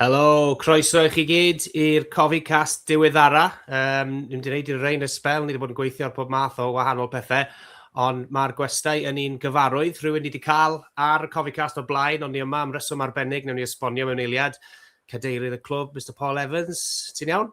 Helo, croeso i chi gyd i'r Cofi Cast diweddara. Um, ni'n wedi gwneud i'r rein y spel, ni wedi bod yn gweithio ar pob math o wahanol pethau, ond mae'r gwestai yn un gyfarwydd. Rhywun ni wedi cael ar y Cofi Cast o'r blaen, ond ni yma am reswm arbennig, newn ni esbonio mewn eiliad. Cadeirydd y clwb, Mr Paul Evans, ti'n iawn?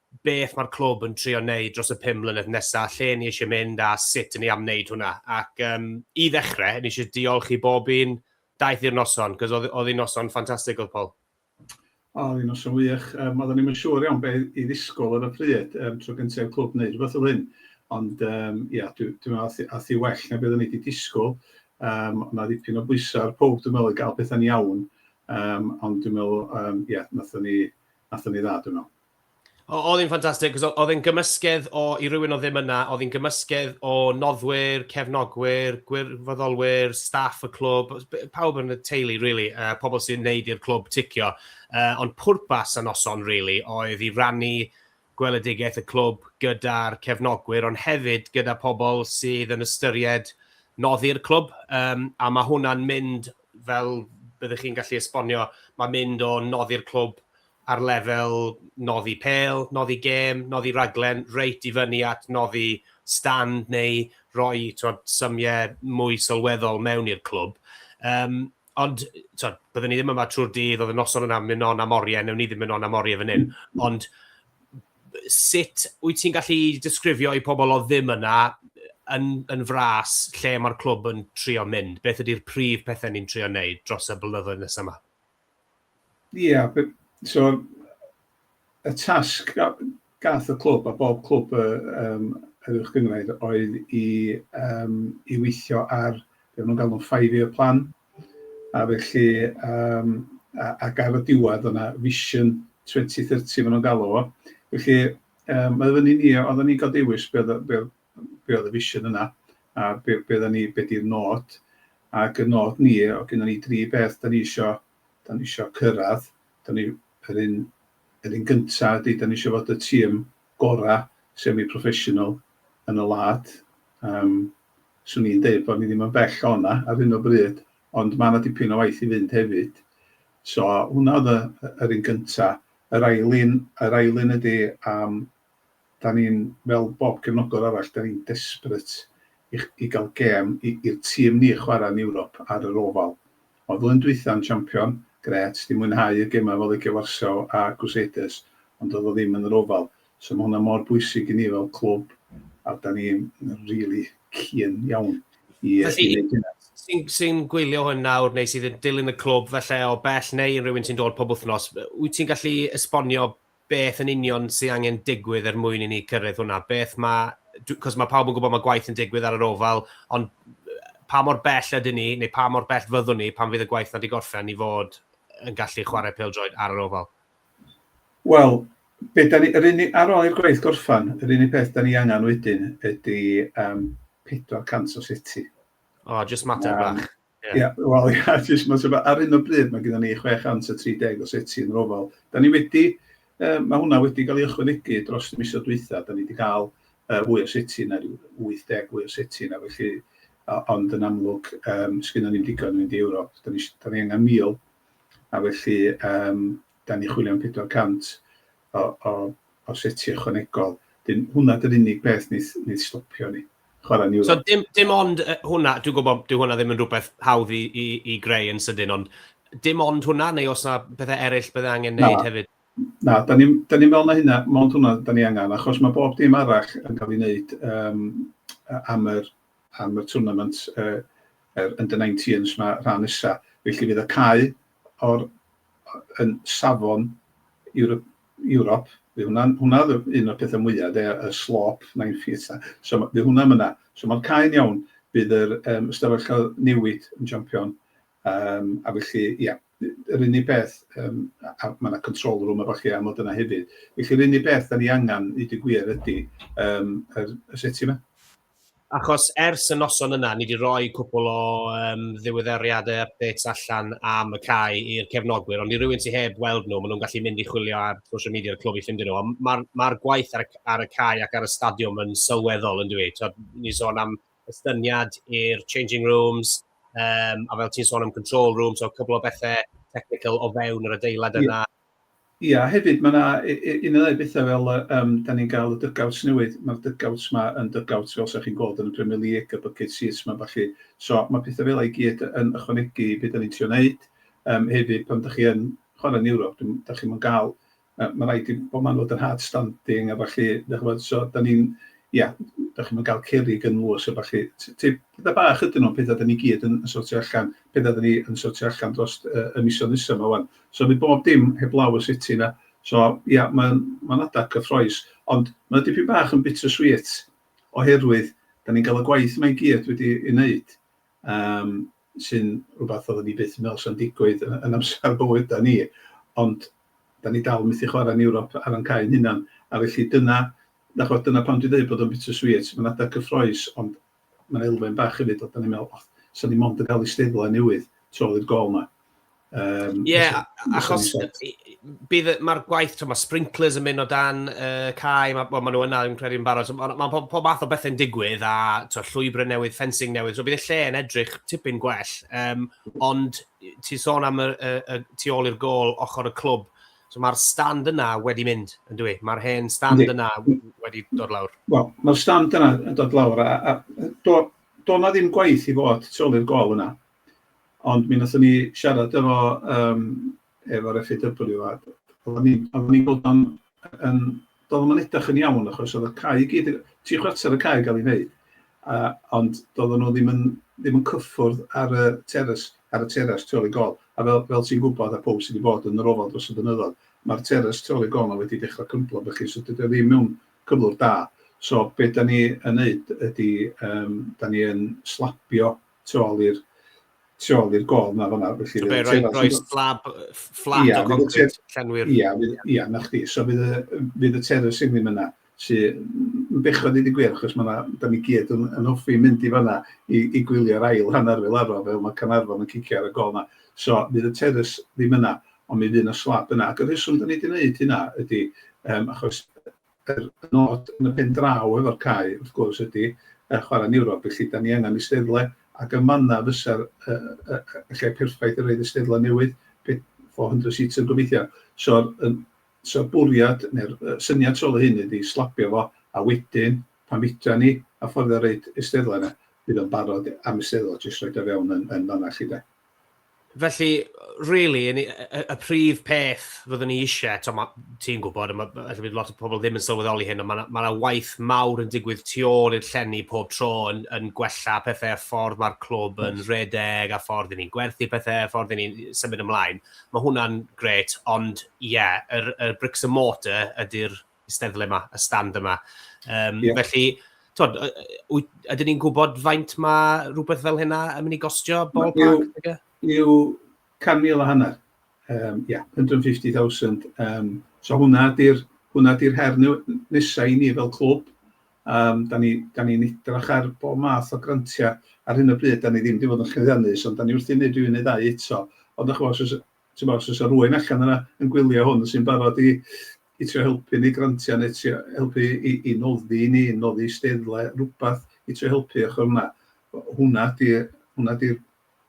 beth mae'r clwb yn trio wneud dros y pum mlynedd nesaf, lle ni eisiau mynd a sut ni am wneud hwnna. Ac um, i ddechrau, ni eisiau diolch i bob un daeth i'r noson, cos oedd, oedd hi'n noson ffantastig oedd Paul. O, oedd hi'n noson wych. Um, oeddwn ni'n siŵr iawn beth i ddisgwyl ar y pryd, um, tro gyntaf i'r clwb wneud rhywbeth o hyn. Ond um, ia, dwi'n dwi meddwl ath i well na beth o'n i wedi disgwyl. Um, ond na ddipyn o bwysau ar pob, dwi'n meddwl, i gael pethau'n iawn. Um, ond dwi'n meddwl, um, ia, nath o'n ni, nath o'n ni dda, dwi'n meddwl. Oedd hi'n ffantastig, achos oedd e'n gymysgedd o, i rywun oedd ddim yna, oedd hi'n gymysgedd o noddwyr, cefnogwyr, gwirfoddolwyr, staff y clwb, pawb yn y teulu, really, uh, pobl sy'n neud i'r clwb ticio. Uh, ond pwrpas y noson, really, oedd i rannu gweledigaeth y clwb gyda'r cefnogwyr, ond hefyd gyda pobl sydd yn ystyried noddi'r clwb, um, a mae hwnna'n mynd, fel byddwch chi'n gallu esbonio, mae'n mynd o noddi'r clwb ar lefel noddi pêl, noddi gêm, noddi rhaglen, reit i fyny at noddi stand neu roi tibod, symiau mwy sylweddol mewn i'r clwb. Um, ond, tibod, byddwn ni ddim yma trwy'r dydd, oedd y noson yna mynd on am oriau, newn ni ddim mynd on am oriau fan hyn. Ond sut wyt ti'n gallu disgrifio i pobl o ddim yna yn, yn fras lle mae'r clwb yn trio mynd? Beth ydy'r prif pethau ni'n trio wneud dros y blynyddoedd nesaf yma? Ie, so y tasg gath y clwb a bob clwb yym yr Uwch Gynghrair oedd i yym i weithio ar be maen nhw'n galw'n five year plan a felly yym a ac ar y diwedd oedd yna vision 2030 maen nhw'n galw fo felly yym mae o fyny i ni oedden ni'n ga'l dewis be oedd y be oedd be oedd y vision yna, a be, be oedden ni, be di'r nod, ac y nod ni, o gynnon ni dri beth da ni isio, da ni isio cyrraedd, da ni, yr un, yr un gyntaf ydy, da ni isio fod y tîm gora semi-professional yn y wlad, um, swn i'n deud bod ni ddim yn bell o'na ar hyn o bryd, ond mae yna dipyn o waith i fynd hefyd. So hwnna oedd yr un gyntaf. Yr ail un, yr ail un ydy um, Da ni'n, fel bob cefnogwr arall, da ni'n desperate i i gael gêm i i'r tîm ni chwarae yn Ewrop ar yr Oval. Ond flwyddyn dwytha yn champion, grêt, di mwynhau y gemau efo Legia Warsaw a Crusaders, ond doedd o ddim yn yr Oval. So ma' hwnna mor bwysig i ni fel clwb a da ni'n rili keen iawn i i neud hynna. Felly, sy'n sy'n gwylio hwn nawr neu sydd yn dilyn y clwb falle o bell neu yn rywun sy'n dod pob wythnos, wyt ti'n gallu esbonio beth yn union sydd angen digwydd er mwyn i ni cyrraedd hwnna? Beth mae... Cos mae pawb yn gwybod mae gwaith yn digwydd ar yr ofal, ond pa mor bell ydyn ni, neu pa mor bell fyddwn ni pan fydd y gwaith 'na 'di gorffen, i fod yn gallu chwarae pêl-droed ar yr ofal? Wel, be' 'dan ni... Yr unig... Ar ôl i'r gwaith gorffen, yr unig beth 'dan ni angen wedyn ydy yym 400 o seti. O, jyst mater bach. Ie. Ie, wel ie, jyst ma'n swnio... Ar hyn o bryd, mae gyda ni 630 o seti yn yr ofal. Da ni wedi... yy, mae hwnna wedi cael ei ychwanegu dros y misoedd dwytha. Da ni wedi cael yy fwy o seti na ryw 80 fwy o seti na, felly... o- ond yn amlwg yym sgynnon ni'm digon i fynd i Ewrop. Da ni isi- da ni angen 1,000, a felly yym da ni'n chwilio am 400. o o o setiau ychwanegol. Dyn, hwnna dy'r unig beth wneith wneith stopio ni. Chwarae yn Ewrop. So dim dim ond uh, hwnna, dwi'n gwybod dyw hwnna ddim yn rhywbeth hawdd i, i, i greu yn sydyn, ond dim ond hwnna, neu os yna bethau eraill bydde angen wneud na. hefyd? Na, da ni'n da ni meddwl na hynna, mond hwnna da ni angen, achos mae bob dim arall yn cael ei wneud um, am yr, am y tournament uh, yr under 19s mae rhan nesa. Felly fydd y cae o'r yn safon Ewrop, Ewrop, fydd hwnna'n, hwnna oedd y- un o'r petha mwya de, y slop nine feet 'na. So ma', fydd hwnna myna. So ma'r cae'n iawn. Bydd yr yym ystafell cael newid yn jampion yym a felly ia, yr unig beth yym a- a ma' 'na control room a ballu am fod yna hefyd. Felly yr unig beth 'dan ni angan i deud y gwir ydi yym yr y seti 'ma. Achos ers y noson yna, ni 'di roi cwpwl o yym ddiweddariade, updates, allan am y cae i'r cefnogwyr, ond i rywun sy heb weld nhw, ma' nhw'n gallu mynd i chwilio ar social media y clwb i ffindio nhw, ond ma'r ma'r gwaith ar y c- ar y cae ac ar y stadiwm yn sylweddol yndyw 'i? T'od ni'n sôn am estyniad i'r changing rooms, yym a fel ti'n sôn am control rooms, so cwpwl o bethe technical o fewn yr adeilad yna. Ia, hefyd mae 'na un neu ddau bethau fel yy yym 'dan ni'n ga'l y dugouts newydd, ma'r dugouts 'ma yn dugouts fel 'sa chi'n gweld yn y Premier League, y bucket seats 'ma a ballu, so ma' petha fela i gyd yn ychwanegu i be' 'dan ni'n trio neud, yym hefyd pan 'dach chi yn chwarae yn Ewrop dwi'm 'dach chi'm yn ga'l yy ma' raid i bob man fod yn hard standing a ballu 'dach ch'mod so 'dan ni'n ia 'dach chi'm yn ga'l cerrig yn nhŵr so ballu t- t- petha bach ydyn nhw ond petha 'dan ni gyd yn yn sortio allan, petha 'dan ni yn sortio allan drost yy y misoedd nesa 'ma ŵan. So nid bob dim heblaw y city 'na. So ia, mae'n mae'n adeg cyffroes. Ond mae o dipyn bach yn bitter sweet oherwydd 'dan ni'n cael y gwaith yma i gyd wedi ei wneud, yym sy'n rhywbeth oedden ni byth yn meddwl 'sa'n digwydd yn yn amser bywydau ni, ond 'dan ni dal methu chwarae yn Ewrop ar ein cau ein hunan. A felly dyna, dach chibod, dyna pam dwi'n deud bod o'n bitter sweet, mae'n adeg cyffroes, ond Ma' 'na elfen bach hefyd o 'dan ni'n meddwl, o, 'sa ni mond yn cael eisteddle newydd tu ôl i'r gol 'ma. Um, Ie, yeah, achos bydd mae'r gwaith, mae sprinklers yn mynd o dan uh, cae, mae ma nhw yna yn credu yn barod, so, mae ma pob, pob math o bethau'n digwydd a to, llwybrau newydd, fencing newydd, so bydd y lle yn edrych tipyn gwell, um, ond ti sôn am y, y, y, tu ôl i'r gol ochr y clwb, So mae'r stand yna wedi mynd, yn dwi? Mae'r hen stand Yndi. yna wedi dod lawr? Wel, mae'r stand yna yn dod lawr, a, a do, do na ddim gwaith i fod tu ôl i'r gol yna. Ond mi wnaethon ni siarad efo, um, efo'r FAW, a oedden ni'n ni bod yn, yn, Doedd o'm yn edrych yn iawn achos oedd y cae i gyd, tri chwarter y cae yn cael ei wneud, a, ond doedden nhw ddim yn, ddim yn cyffwrdd ar y teres, ar y teres tu ôl i gol. A fel, fel ti'n gwybod, a pawb sydd wedi bod yn yr ofal dros y blynyddoedd, mae'r teres tu ôl i gol 'na wedi dechrau crymblo felly, so dydy o ddim mewn cyflwr da. So be da ni yn wneud ydy, yym, da ni yn slabio tu ôl i'r tu ôl i'r gôl yma fanna felly bydd y teras rhoi slab fflat o concrit llenwi'r ia ia na chdi so bydd y bydd y teras yn ddim yna sy yn bechod i di gwir achos mae yna da ni gyd yn, yn hoffi mynd i fanna i, i gwylio'r ail hanner fel arfer fel mae Canarfon yn cicio ar y gol yma so bydd y teras ddim yna ond mi fydd yna slab yna ac y rheswm da ni wedi gwneud hynna ydy um, achos Yr nod yn y pen draw efo'r cae wrth gwrs ydi yy chwarae yn Ewrop felly 'dan ni angan eisteddle ac yn fan 'na fysa'r yy yy y lle perffaith i roid eisteddle newydd, pe- four hundred seater gobeithio. So'r yn so'r bwriad neu'r yy syniad tu ôl i hyn ydi slabio fo a wedyn pan fedran ni affordio roid eisteddle yna fydd o'n barod am eisteddle jyst roid o fewn yn yn fan'na 'lly de. felly, really, y, y, y prif peth fyddwn ni eisiau, to, ma, ti'n gwybod, mae ma, bydd lot o pobl ddim yn sylweddoli hyn, ond mae yna ma waith mawr yn digwydd tu ôl i'r llenni pob tro yn, yn gwella pethau a ffordd mae'r clwb yn redeg a ffordd i ni'n gwerthu pethau a ffordd i ni'n symud ymlaen. Mae hwnna'n gret, ond ie, yeah, yr, yr bricks and mortar ydy'r eisteddle yma, y stand yma. Um, yeah. Felly, twod, ydyn ni'n gwybod faint mae rhywbeth fel hynna yn mynd i gostio bol park? Yw 100,000 a hanner. Um, yeah, 150,000. Um, so hwnna di'r hwnna di'r her nesau i ni fel clwb. Um, da ni'n ni, da ni edrach ar bob math o grantiau ar hyn o bryd, da ni ddim wedi bod yn chyddiannus, ond da ni wrthi'n neud rhywun neu ddau eto. Ond o'ch gwrs, Timod, os oes 'na rywun allan yna yn gwylio hwn sy'n barod i i trio helpu ni grantiau neu trio helpu i i noddi i ni, noddi eisteddle, rhywbeth i trio helpu ochr yna, hwnna ydi hwnna ydi'r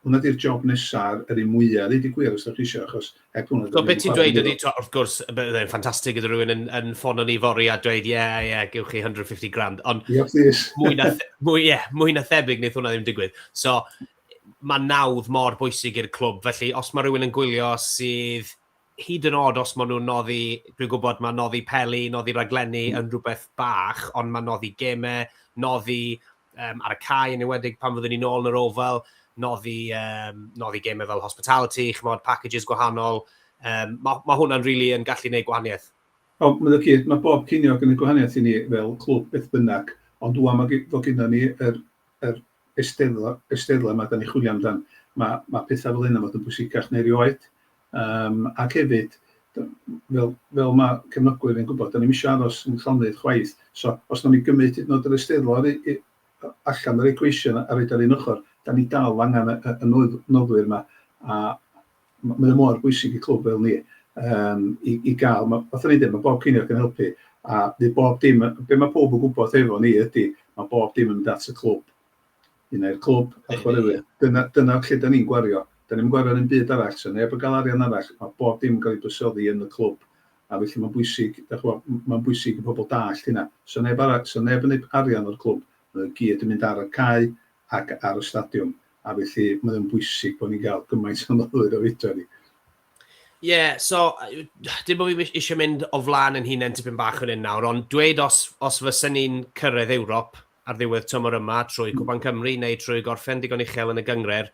hwnna ydi'r job nesa' a'r yr un mwya' ddeud y gwir os dach chi isio achos heb hwnna... So be' ti'n dweud ydi t'o' wrth gwrs bydde fe'n ffantastig gyda rhywun yn yn ffono ni fory a dweud ie ie gewch chi 150 grand ond... Ie plîs. ...mwy na mwy ie mwy na thebyg neith hwnna ddim digwydd. So mae nawdd mor bwysig i'r clwb, felly os mae rhywun yn gwylio sydd hyd yn oed os maen nhw'n noddi, dwi'n gwybod mae noddi peli, noddi raglenni yn rhywbeth bach, ond mae noddi gemau, noddi um, ar y cae yn ewedig pan fyddwn ni'n ôl yn yr ofal, noddi, um, noddi gemau fel hospitality, chymod, packages gwahanol, um, mae, mae hwnna'n rili really yn gallu gwneud gwahaniaeth. O, mae'n gyd, mae bob cynio yn gwneud gwahaniaeth i ni fel clwb beth bynnag, ond dwi'n mae fod gyda ni yr, yr eisteddle, eisteddle yma dan ni'n chwilio amdan, mae ma' pethau fel hyn yn fod yn bwysicach neu erioed. Um, ac hefyd, fel, fel mae cefnogwyr yn gwybod, da ni'n eisiau aros yn llonydd chwaith. So, os da ni'n gymryd hyd yn oed yr eisteddle allan yr equation a roed ar un ochr, da ni dal angen y, y, y noddwyr yma. A, mae o mor bwysig i clwb fel ni um, i, i gael, mae, fath o'n dweud, mae bob ceiniog yn helpu, a bydd bob dim, be mae pob yn gwybod efo ni ydy, mae bob dim yn mynd at y clwb. Un ai'r clwb, a chwaraewyr. Dyna, dyna lle da ni'n gwario. Da ni'n gwario yn un byd arall, so neb yn cael arian arall, mae bob dim yn cael ei bysoddi yn y clwb. A felly mae'n bwysig, mae'n bwysig i pobl dallt hynna. So neb, arall, so neb yn ei arian o'r clwb, mae gyd yn mynd ar y cae, ac ar y stadiwm, a felly mae o'n bwysig bod ni'n cael gymaint o myfyrwyr a fedra ni. Ie, yeah, so, dim bod fi eisiau mynd o flaen yn hunain tipyn bach yn un nawr, ond dweud os, os fysen ni'n cyrraedd Ewrop ar ddiwedd tymor yma trwy hmm. Cwpan Cymru neu trwy gorffen digon uchel yn y gyngred,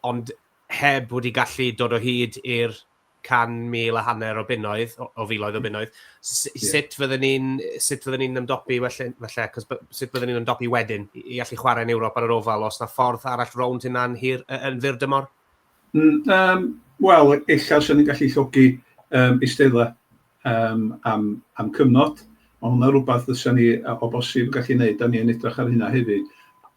ond heb wedi gallu dod o hyd i'r 100,000 a hanner o bunnoedd, o filoedd o bunnoedd, sut fydden ni'n, sut fydden ni'n ymdopi, felly, felly, cos sut fydden ni'n ymdopi wedyn i allu chwarae yn Ewrop ar yr ofal, os na ffordd arall rownd hynna'n hir, yn fyr dymor? Um, Wel, ella os ni'n gallu llogi um, eisteddau um, am, am cyfnod, mae hwnna rhywbeth fysa ni o bosib yn gallu gwneud, da ni'n edrych ar hynna hefyd,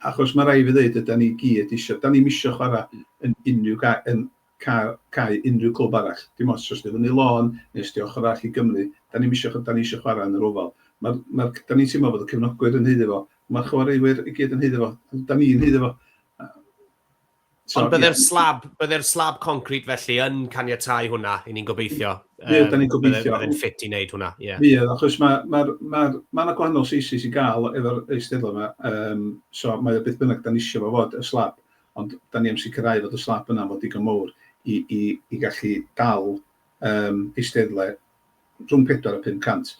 achos mae rai fi ddeud, ydy ni gyd eisiau, da ni'n eisiau chwarae yn unrhyw gael, yn cael, cau unrhyw clwb arall. Dim ots os 'di o fyny lôn neu os 'di o ochr arall i Gymru, 'da ni'm isio, 'da ni isio chwarae yn yr Oval. Mae'r, mae'r, 'da ni'n teimlo fod y cefnogwyr yn haeddu fo, mae'r chwaraewyr i gyd yn haeddu fo, 'da ni'n haeddu fo. So, Ond bydde'r yeah. slab, bydde'r slab concret felly yn caniatau hwnna, i ni'n gobeithio. Bydd, da ni'n gobeithio. Bydd yn ffit i wneud hwnna, ie. Yeah. Bydd, achos mae ma, ma, ma yna gwahanol seisis i gael efo'r eisteddle yma, um, so mae o beth bynnag da ni eisiau fo fod, y slab. Ond dan ni am sicrhau fod y slab yna fod digon mowr i i i gallu dal yym eisteddle rhwng 400 a 500.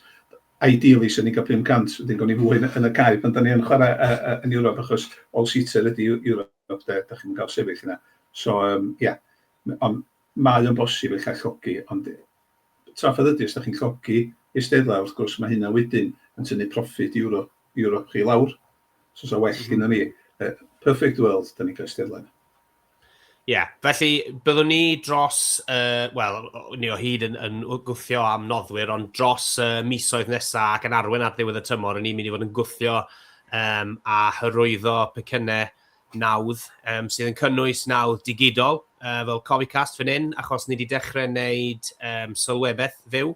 Ideally 'swn i'n cael 500 wedyn gawn ni fwy yn y cae pan dan ni yn chwara yy yy yn Ewrop achos all seater ydi Ewrop de, dach chi'm yn cael sefyll yna. So yym ia ond mae o'n bosib ella llogi ond trafferth ydi os dach chi'n llogi eisteddle wrth gwrs ma' hynna wedyn yn tynnu proffit Ewrop Ewrop chi lawr. Os oes a well mm. gyda ni, uh, perfect world, da ni'n cael eistedd lan. Ie, yeah, felly byddwn ni dros, uh, wel, ni o hyd yn, yn gwthio am noddwyr, ond dros uh, misoedd nesaf ac yn arwen ar ddiwedd y tymor, ni'n mynd i fod yn gwthio um, a hyrwyddo pecynnau nawdd um, sydd yn cynnwys nawdd digidol uh, fel Cofficast fan hyn, achos ni wedi dechrau wneud um, sylwebaeth fyw.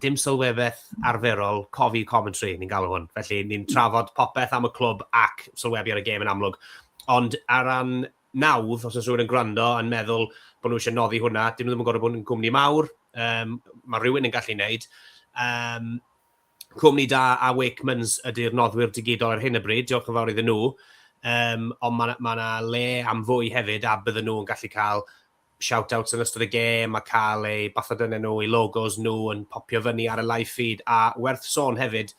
dim sylwebaeth arferol, cofi commentary, ni'n galw hwn. Felly, ni'n trafod popeth am y clwb ac sylwebu ar y gêm yn amlwg. Ond ar ran nawdd, os oes rhywun yn gwrando yn meddwl bod nhw eisiau noddi hwnna, dyn nhw ddim yn gorfod bod yn gwmni mawr, um, mae rhywun yn gallu wneud. Um, cwmni da a Wakemans ydy'r noddwyr digidol ar hyn y bryd, diolch yn fawr iddyn nhw. Um, ond mae yna ma le am fwy hefyd a bydden nhw'n gallu cael shout-outs yn ystod y gêm a cael eu bathodynnau nhw, eu logos nhw yn popio fyny ar y live feed, a werth sôn hefyd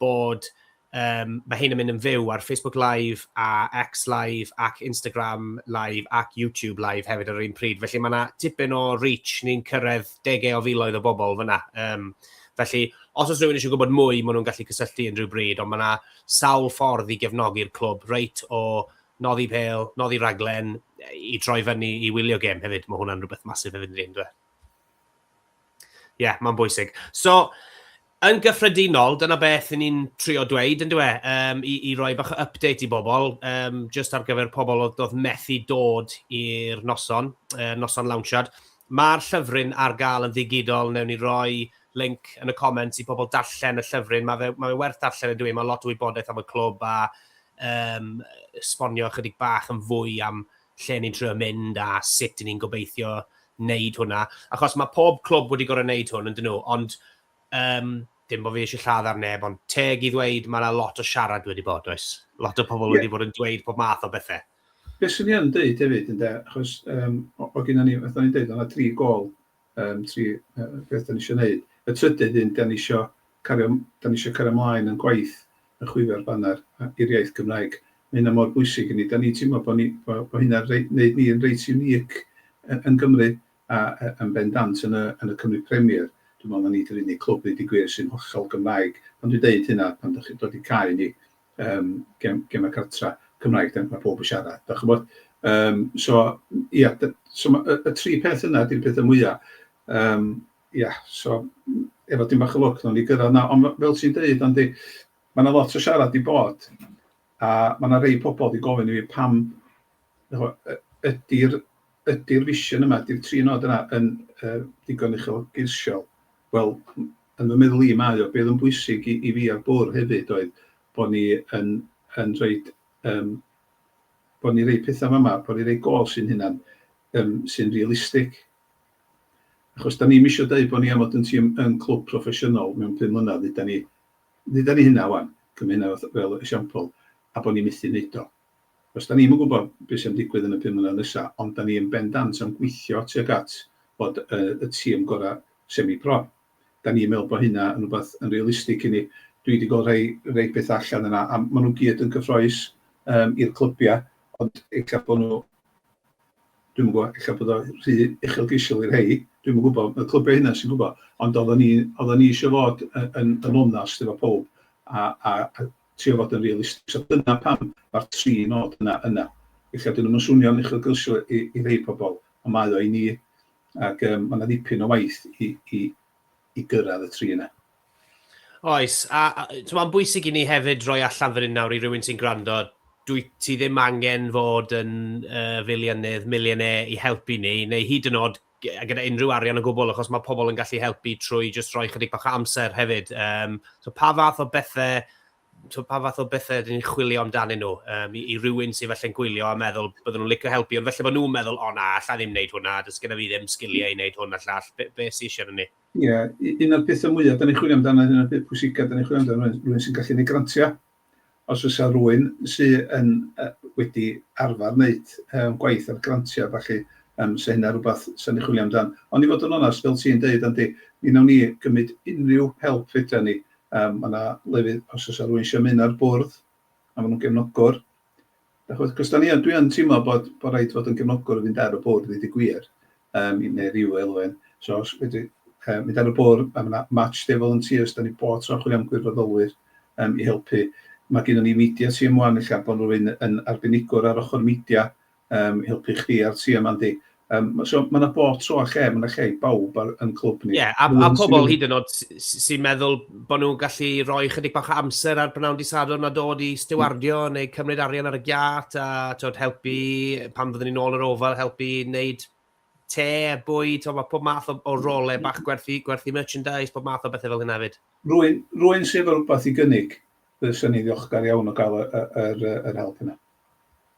bod um, mae hyn yn mynd yn fyw ar Facebook Live a X Live ac Instagram Live ac YouTube Live hefyd ar yr un pryd. Felly mae yna tipyn o reach ni'n cyrraedd degau o filoedd o bobl fyna. Um, felly, os oes rhywun eisiau gwybod mwy, maen nhw'n gallu cysylltu unrhyw bryd, ond mae yna sawl ffordd i gefnogi'r clwb, reit o noddi pêl, noddi rhaglen, i droi fyny, i wylio gêm hefyd. Mae hwnna'n rhywbeth masif hefyd yn dweud, dwi. Ie, yeah, mae'n bwysig. So, yn gyffredinol, dyna beth ni'n trio dweud, yn dwi, um, i, i roi bach o update i bobl, um, just ar gyfer pobl oedd, oedd methu dod i'r noson, uh, noson lawnsiad. Mae'r llyfryn ar gael yn ddigidol, newn ni roi link yn y comments i pobl darllen y llyfryn. Mae fe, mae fe werth darllen yn dwi, mae lot o wybodaeth am y clwb a um, esbonio ychydig bach yn fwy am lle ni'n trio mynd a sut ni'n gobeithio wneud hwnna. Achos mae pob clwb wedi gorau wneud hwn, ydyn nhw, ond um, dim bod fi eisiau lladd ar neb, ond teg i ddweud mae yna lot o siarad wedi bod, oes? Lot o pobl yeah. wedi bod yn dweud pob math o bethau. Beth sy'n i'n dweud hefyd, ynddo, achos um, o, o gyda ni, oedd ni'n dweud, o'na tri gol Yym tri yy beth dan ni isio wneud. Y trydydd un, dan ni isio cario dan ni isio cario ymlaen yn gwaith yn chwifio'r baner a- i'r iaith Gymraeg. Ma' hynna mor bwysig i ni. Dan ni'n teimlo bod ni bo' bo' hynna'n rei- wneud ni'n reit unique y- yn Gymru a y- yn bendant yn y yn y Cymru Premier. Dwi'n meddwl na ni di'r unig clwb, ddeud y gwir, sy'n hollol Gymraeg. Pan dwi'n deud hynna, pan dach chi'n dod i cau ni, yym gem- gemau cartra Cymraeg, dan- ma' pawb yn siarad, dach chi'n gwybod. Yym so ia, d- so ma' y y tri peth yna ydy'r petha mwya. Yym ia, so efo dipyn bach o lwc wnawn ni gyrraedd 'na, ond f- fel ti'n deud Andy, ma' 'na lot o siarad 'di bod, a ma' 'na rei pobl 'di gofyn i fi pam ch'mo' y- ydi'r ydi'r vision yma, ydi'r tri nod yna yn yy digon uchelgeisiol? Wel, Yn fy meddwl i, mae o. Be oedd yn bwysig i fi a'r bwrdd hefyd oedd bod ni yn yn rhoid yym bod ni'n rhoi pethau fama, bod ni'n rhoi gols i'n hunan yym sy'n realistig. Achos da ni'm isio deud bod ni am fod yn tîm yn clwb proffesiynol mewn pum mlynedd, dduda ni dduda ni hynna ŵan, cymryd hynna fel esiampl, a bod ni methu wneud o. Does 'da ni'm yn gwybod be sy'n digwydd yn y pum mlynedd nesa, ond 'da ni yn bendant yn gweithio tuag at fod y tîm gorau semi-pro. 'Da ni'n meddwl bod hynna yn rhywbeth yn realistig i ni. Dwi 'di gweld rhai rhai pethau allan yna, a maen nhw gyd yn gyffroes yym i'r clybiau, ond ella bod nhw, dwi'm yn gwybod, ella bod o rhy uchelgeisiol i rhai, dwi'm yn gwybod, y clybiau eu hunain sy'n gwybod, ond oeddan ni oeddan ni eisiau fod yn yn onast efo pawb a a trio fod yn realistig. So dyna pam mae'r tri nod yna yna. Weithiau dyn nhw'm yn swnio'n uchelgylsio i i rhei pobl, ond mae o i ni. Ac yym mae 'na ddipyn o waith i i i gyrraedd y tri yna. Oes, a a yy t'mo' ma'n bwysig i ni hefyd roi allan fan hyn nawr i rywun sy'n gwrando, dwyt ti ddim angen fod yn yy filiynnydd, millionaire i helpu ni, neu hyd yn o'd gyda unrhyw arian o gwbl, achos mae pobl yn gallu helpu trwy jyst rhoi chydig bach o amser hefyd. Um, so pa fath o bethau so pa fath o bethau ydyn ni'n chwilio amdanyn nhw um, i, i rywun sy'n felly'n gwylio a meddwl byddwn nhw'n licio helpu, ond felly bod nhw'n meddwl, o na, allai ddim wneud hwnna, dys gyda fi ddim sgiliau i wneud hwn a llall, be, be sy'n eisiau ni? Ie, yeah, un o'r pethau mwyaf, da ni'n chwilio amdano, un o'r peth pwysicaf, da ni'n chwilio amdano rhywun sy'n gallu gwneud grantiau, Os oes 'na rywun sy yn yy wedi arfar neud yym gwaith ar grantia a ballu yym 'sa hynna rwbath 'sa ni'n chwilio amdan. Ond i fod yn onast fel ti'n deud Andy mi nawn ni gymyd unrhyw help fedran ni. Yym ma' 'na lefydd os o's 'na rywun isio ymuno â'r bwrdd a ma' nhw'n gefnogwr Achos, achos da ni yn, dwi yn teimlo bod, bod rhaid fod yn gefnogwr yn mynd ar y bwrdd i dy gwir, um, neu rhyw elwen. So, os fedri um, mynd ar y bwrdd, mae yna match day volunteers, da ni bod tro chwilio am gwirfoddolwyr um, i helpu. Mae gen ni media team wan, lle bod rhywun yn arbenigwr ar ochr media um, i helpu chdi a'r team, Andy. Um, so, mae yna bob tro a lle, mae yna lle i bawb ar, yn clwb ni. Ie, yeah, a, a pobl hyd yn oed sy'n meddwl bod nhw'n gallu rhoi chydig bach o amser ar brynawn disadwrn a dod i stiwardio mm. neu cymryd arian ar y giat a tod, helpu pan fyddwn ni'n ôl yr ofal, helpu wneud te, bwy, to, mae pob math o, o rolau mm. bach gwerthu, gwerthu merchandise, pob math o bethau fel hynna hefyd. Rwy'n, rwy'n sef rhywbeth i gynnig, byddwn ni'n ddiolchgar iawn o gael yr, yr, yr help yna.